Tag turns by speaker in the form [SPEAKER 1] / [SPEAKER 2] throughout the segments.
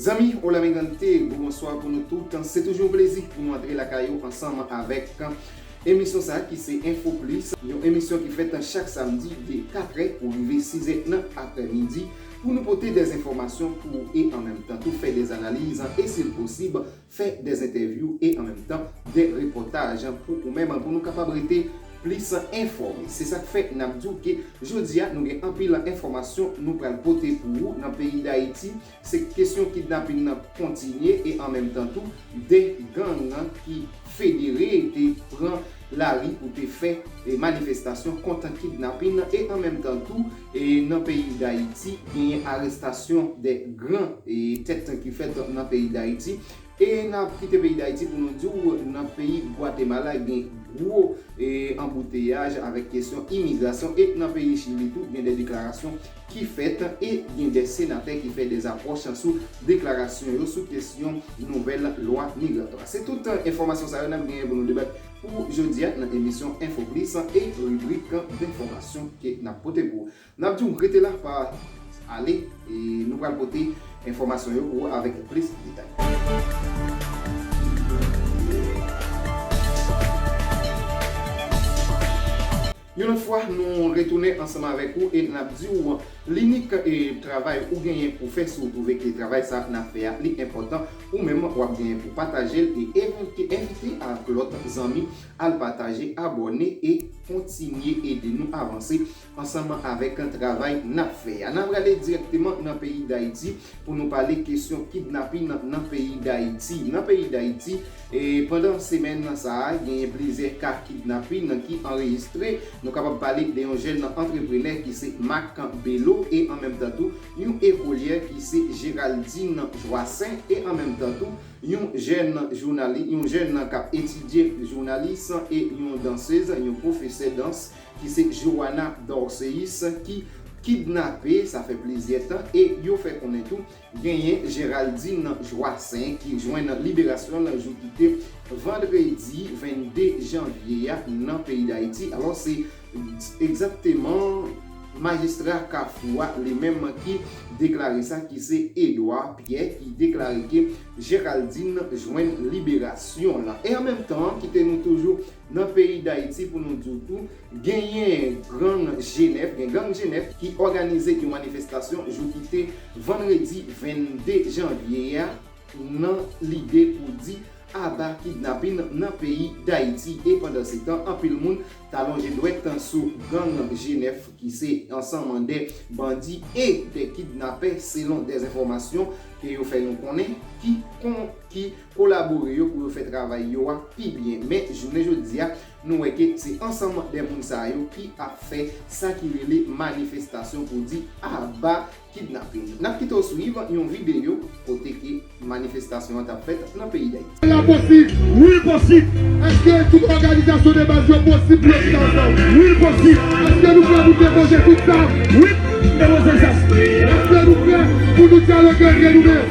[SPEAKER 1] Zanmi Olamigrante, bonsoir pou nou tout. Se toujou yon plezi pou nou antre lakay ou ansanm avèk emisyon sa ki se Info Plus, yon emisyon ki fèt chak samdi de 4 è pou rive 6 è nan aprè midi. Pou nou pote dè enfòmasyon pou ou e an menm tan tou fè dè analiz e si l posib fè dè entèvyou e an menm tan dè repòtaj pou ou menm pou nou kapab rete plis enfòme. Se sak fè nap di w ke jodi a nou gen anpil enfòmasyon nou pral pote pou ou nan peyi Dayiti se kesyon kidnaping nan kontinye e an menm tan tou dè gang ki federe te pran lari pou te fè manifestasyon kont kidnaping e an menm tan tou Nan peyi Dayiti genyen arestasyon 2 gran tèt ki fèt nan peyi Dayiti e nap kite peyi Dayiti pou nou diw nan peyi Gwatemala gen gwo anbouteyaj avèk kesyon imigrasyon e nan peyi Chili tou gen 2 deklarasyon ki fèt e gen 2 senatè ki fè 2 apwòch sou deklarasyon yo sou kesyon nouvèl lwa migratwa. Se tout enfòmasyon sa yo nap genyen pou nou debat. Pou jodia nan emisyon info plis e ribrik d'information ke nap pote pou ou. Nap diw rete la pa ale e nou pral pote enfomasyon yo pou ou avek plis detay. Yon lòt fwa nou retounen ansanm avèk ou e nap di ou linik travay ou genyen pou fè si ou twouve ke travay sa nap fè a li enpòtan ou menm wap genyen pou patajel e envite ak lòt zanmi al pataje abòne e kontinye ede nou avanse ansanm avèk travay nap fè a. Nan prale dirèkteman nan peyi dayiti pou nou pale kesyon kidnapin nan peyi dayiti nan peyi dayiti. Pandan semèn sa a, genyen plizyè ka kidnapin ki anrejistre. Nou kapab pale de yon jèn antreprenè ki se Mack Bello e an menm tan tou yon ekolyè ki se Geraldine Joassaint e an menm tan tou yon jèn jounali, yon jèn k ap etidye jounalis e yon dansez, yon pwofesè dans ki se Johanna Dorcéus ki kidnape sa fè plizyè tan e yo fè konnen tou Genyen Geraldine Joassaint ki jwenn liberasyon l jou ki te vandredi 22 janvye a nan peyi Dayiti. Alò se egzakteman majistra Kafou a li menm ki deklare sa ki se Edouard Pierre ki deklare ke Geraldine jwenn liberasyon l. E an menm tan kite nou toujou Nan peyi Dayiti pou nou di w tou, genyen grang Jenèf, gen gang Jenèf ki òganize yon manifestasyon jou ki te vandredi 22 janvye a nan lide pou di aba kidnapin nan peyi Dayiti e pandansetan anpil moun ta lonje dwèt sou gang Jenèf ki se ansanman de bandi e de kidnapè selon de enfòmasyon ke yo fè nou konnen ki kolabore yo pou yo fè travay yo a pi byen men jounen jodi a nou wè ke se ansanm de moun sa yo ki ap fè sa ki rele manifestasyon pou di aba kidnaping nap kite w swiv yon videyo kote ke manifestasyon an tap fèt nan peyi dayiti. Sela posib!
[SPEAKER 2] Wi l posib! Eske tout òganizasyon de baz yo posib pou yo chita ansanm? Wi l posib! Eske nou prè pou depoze tout zam? Wi! Depoze zam! Eske nou prè pou nou dyaloge antre nou menm?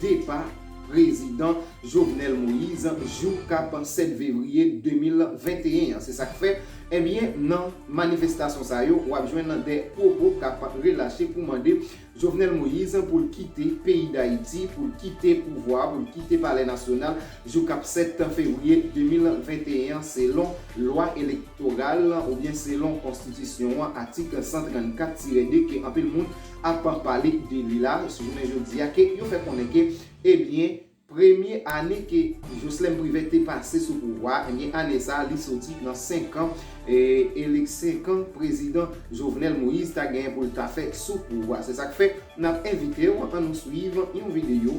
[SPEAKER 1] depa prezidan Jovenel Moise jou k ap 7 vevriye 2021 an. Se sa k fè, ebyen nan manifestasyon sa yo w ap jwenn de pwopo k ap relache pou mande Jovenel Moise pou l kite peyi Dayiti, pou l kite pouvwa a, pou l kite palè nasyonal jou k ap 7 fevriye 2021 an selon lwa elektoral oubyen selon konstitisyon an atik 134 tire 2 ke anpil moun ap pale de li la sou jounen jodi a ke yo fè konnen ke ebyen premye ane ke Joslèm Privè te pase sou pouvwa a ebyen ane sa li soti nan 5 kan elek 5 kan prezidan Jovenel Moïse ta genyen pou l ta fè sou pouvwa. Se sa k fè n ap envite w an nou swiv yon videyo.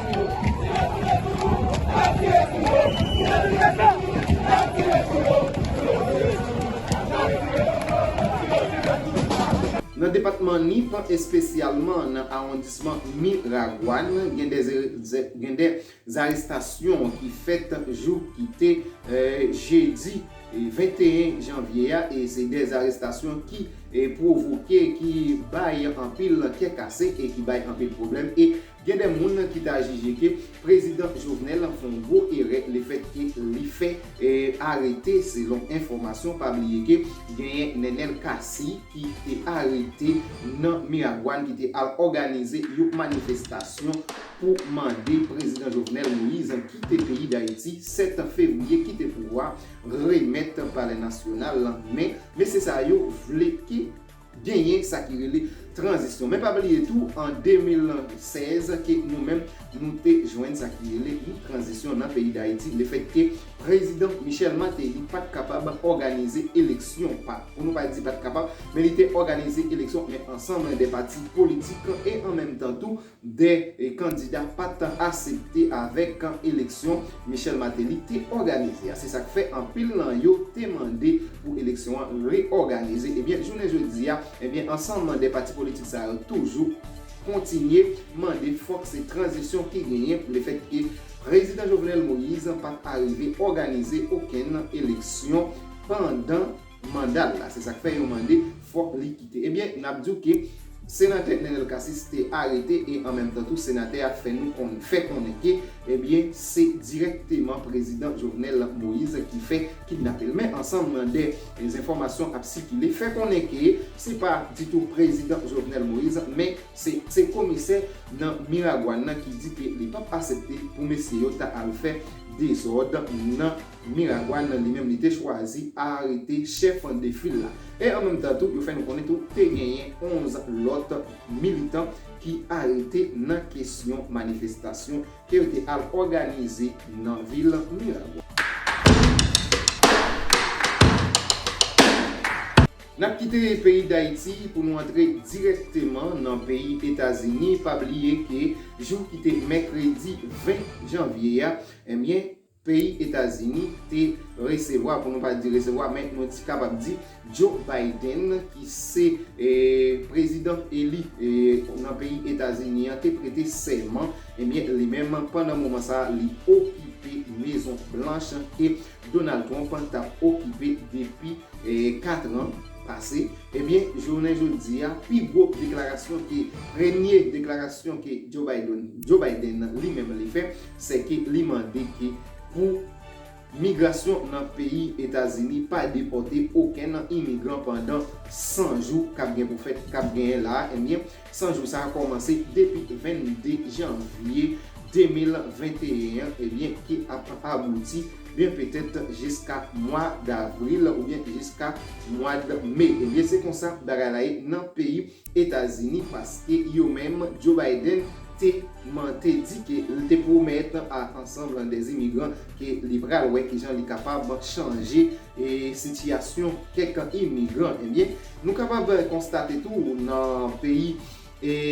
[SPEAKER 1] Nan depatman Nip, espesyalman nan awondisman Miragwàn, gen 2 zarestasyon ki fèt jou ki te jedi 21 janvye a e se 2 zarestasyon ki pwovoke, ki bay anpil kè kase e ki bay anpil pwoblèm e Gen de moun ki ta jije ke Prezidan Jovenel fè yon gwo erè le fèt ke li fè arete selon enfòmasyon pa bliye ke genyen Nenel Cassy ki te arete nan Miragwàn ki te al òganize yon manifestasyon pou mande Prezidan Jovenel Moise kite peyi Dayiti 7 Fevriye kite pouvwa remèt Palè Nasyonal lan men mesye sa yo vle ke Genyen sa ki rele tranzisyon. Men pa bliye tou an 2016 ke nou menm nou te jwenn sa ki rele yon tranzisyon nan peyi Dayiti le fèt ke Prezidan Michel Martelly pat kapab òganize eleksyon, pa pou nou pa di pat kapab, men li te òganize eleksyon men ansanm de pati politik e an menm tan tou 2 kandida pa t asepte avèk kan eleksyon Michel Martelly te òganize a. Se sa k fè anpil nan yo te mande pou eleksyon an reòganize. Ebyen, jounen jodi a, ebyen ansanm 2 pati politik sa yo toujou kontinye mande fòk se tranzisyon ki genyen lefèt ke Prezidan Jovenel Moïse pa t arive òganize okenn eleksyon pandan manda l la se sak fè yon mande fòk li kite ebyen nap diw ke Senatè Nenel Cassys te arete e an menm tan tou senatè a fè nou konn fè konnen ke ebyen se dirèkteman prezidan Jovenel Moise ki fè kidnape l men ansanm nan de zenfòmasyon ap sikile fè konnen ke se pa ditou prezidan Jovenel Moise men se se komisè nan Miragwàn nan ki di ke li pap asepte pou mesye yo ta al fè dezòd nan Miragwàn nan li menm li te chwazi arete chèf de fil la. E an menm tan tou, yo fè nou konnen tou te genyen 11 lòt militan ki arete nan kesyon manifestasyon ke yo te al òganize nan vil Miragwàn. Nap kite peyi Dayiti pou nou antre dirèkteman nan peyi Etazini, pa bliye ke jou ki te mèkredi 20 janvye a, enbyen Peyi Etazini te resevwa, pou nou pa di resevwa, men nou t kapab di Joe Biden ki se prezidan eli nan peyi Etazini an te prete sèman, ebyen li menm pandan moman sa li okipe Mezon Blanch ke Donald Trump tap okipe depi 4 an pase, ebyen jounen jodi a pi gwo deklarasyon ke premye deklarasyon ke Joe Biden li menm li fè. sè ke li mande ke pou Migrasyon nan peyi Etazini pa depòte oken nan imigran pandan 100 jou kap gen pou fèt kap genyen la a enbyen 100 jou sa a kòmanse depi 22 janvye 2021 an ebyen ki ap abouti byen petèt jiska mwa davril oubyen jiska mwad me ebyen se konsa bagay la ye nan peyi Etazini paske yo menm Joe Biden te man te di ke l te pwomèt a ansanm des immigrants ke li pral wè kijan li kapab chanje sitiyasyon kèk imigran ebyen nou kapab konstate tou nan peyi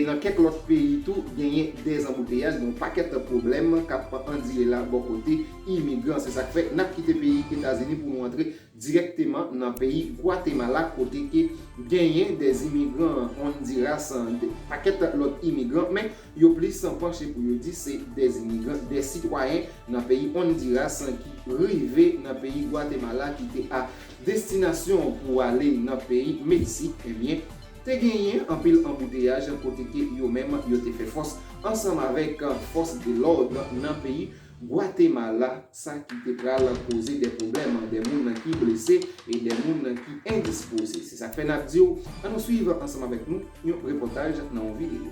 [SPEAKER 1] nan kèk lòt peyi tou genyen des anbouteyaj gen yon pakèt pwoblèm k ap andire la bò kote imigran se sa k fè n ap kite peyi Etazini pou nou antre dirèkteman nan peyi Gwatemala kote ke genyen de imigran Hondiras, de pakèt lòt imigran men yo plis panche pou yo di se de imigran, de sitwayen nan peyi Hondiras ki rive nan peyi Gwatemala ki te a destinasyon pou ale nan peyi Meksik ebyen te genyen anpil anbouteyaj kote ke yo menm yo te fè fòs ansanm avèk fòs de lòd nan peyi Gwatemala, sa ki te pral koze de pwoblèm, de moun ki blese e de moun ki endispoze. Se sak fè nap di w, an nou swiv ansanm avèk nou yon repòtaj nan yon videyo.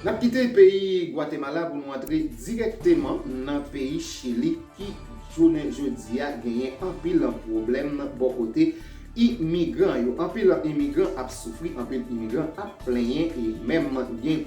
[SPEAKER 1] N ap kite peyi Gwatemala pou nou antre dirèkteman nan peyi Chili ki jounen jodi a genyen anpil pwoblèm bò kote imigran yo. Anpil imigran ap soufri, anpil imigran ap plenyen e menm gen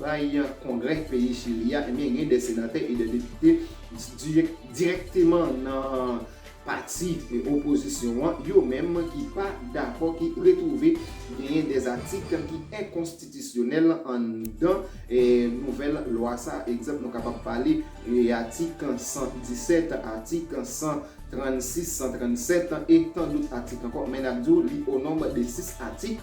[SPEAKER 1] Bay Kongrè peyi Chili a, ebyen gen 2 senatè e 2 depite dirèkteman nan pati opozisyon an, yo menm ki pa dakò ki retwouve genyen 2 atik ki enkonstitisyonèl anndan nouvèl lwa sa a. Egzanp nou kapab pale atik 117, atik 136, 137 e tandout atik ankò men n ap di w li o nonb de 6 atik.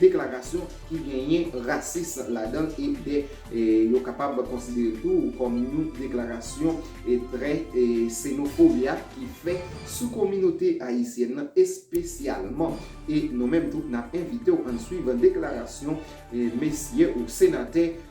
[SPEAKER 1] deklarasyon ki genyen rasis ladan l e de yo kapab konsidere l tou kòm yon deklarasyon trè senofobia ki fè sou kominote ayisyèn nan espesyalman e nou menm tou n ap envite w ann swiv deklarasyon mesye ou senatè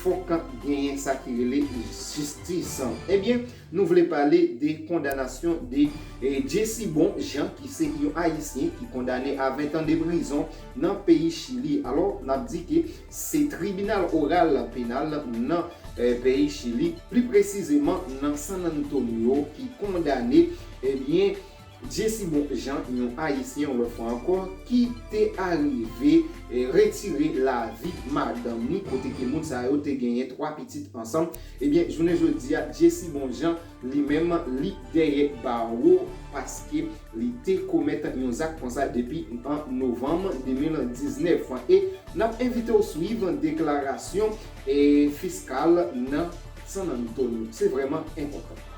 [SPEAKER 1] Fok genyen sa ki rele jistis. Ebyen nou vle pale de kondanasyon de Jesi Bon Jan ki se yon ayisyen ki kondane a 20 tan de prizon nan peyi Chili. Alò nap di ke se tribinal oral penal nan peyi Chili, pli presizeman nan San Antonio ki kondane ebyen Jesi bon jan yon ayisyen yon lòt fwa ankò ki te arive retire lavi madanm li kote ke moun sa yo te genyen 3 pitit ansanm ebyen jounen jodi a Jesi bon jan li menm li dèyè bawo paske li te komèt yon zak konsa depi an novanm 2019 e nap envitew swiv deklarasyon fiskal nan San Antonio se vrèman enpòtan.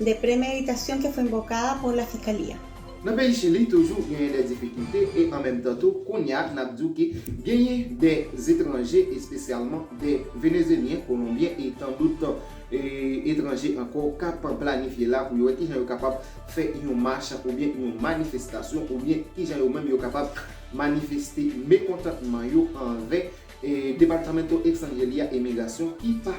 [SPEAKER 3] De premeditasyon que fue invocada por la Fiscalía. Nan peyi Chili
[SPEAKER 1] toujou genyen de difikilte e an menm tan tou kounya nap diw ke genyen de etranje espesyalman de Venezelyen, Kolonbyen e tan dout etranje anko kap planifye la pou yo wè kijan yo kapab fè yon mach oubyen yon manifestasyon oubyen kijan yo menm yo kapab manifeste mekontantman yo anvè Departamento Extranjeria e Migrasyon ki pa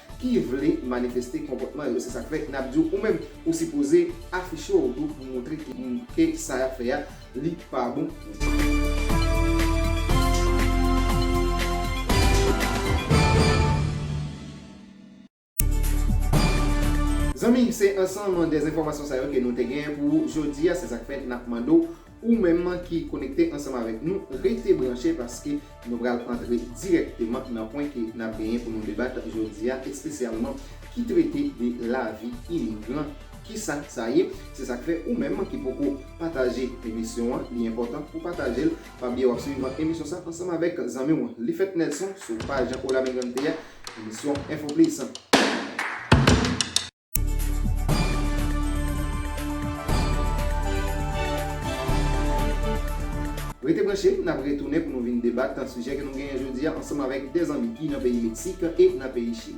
[SPEAKER 1] ki vle manifeste konpòtman yo se sak fè nap diw ou menm ou sipoze afiche w tou pou montre ki moun ke sa yap fè a li pa bon pou. Zanmi se ansanm de zenfòmasyon sa yo ke nou te gen pou ou jodi a se sak fè nap mande w Ou menm ki konekte ansanm avèk nou, rete branche paske nou pral antre dirèkteman nan pwen ke n ap genyen pou nou debat jodi a, espesyalman ki trete de lavi imigran, ki sa sa ye. Se sa k fè ou menm ki poko pataje emisyon an, li enpòtan pou pataje l. Pa bliye w ap suiv emisyon sa ansanm avèk zanmi w Lifèt Nelson sou paj Hola Migrante a, emisyon Info Plus. Rete branche, n ap retounen pou nou vin debat sijè ke nou genyen jodi a ansanm avèk 2 zanmi ki nan peyi Meksik e nan peyi Chili.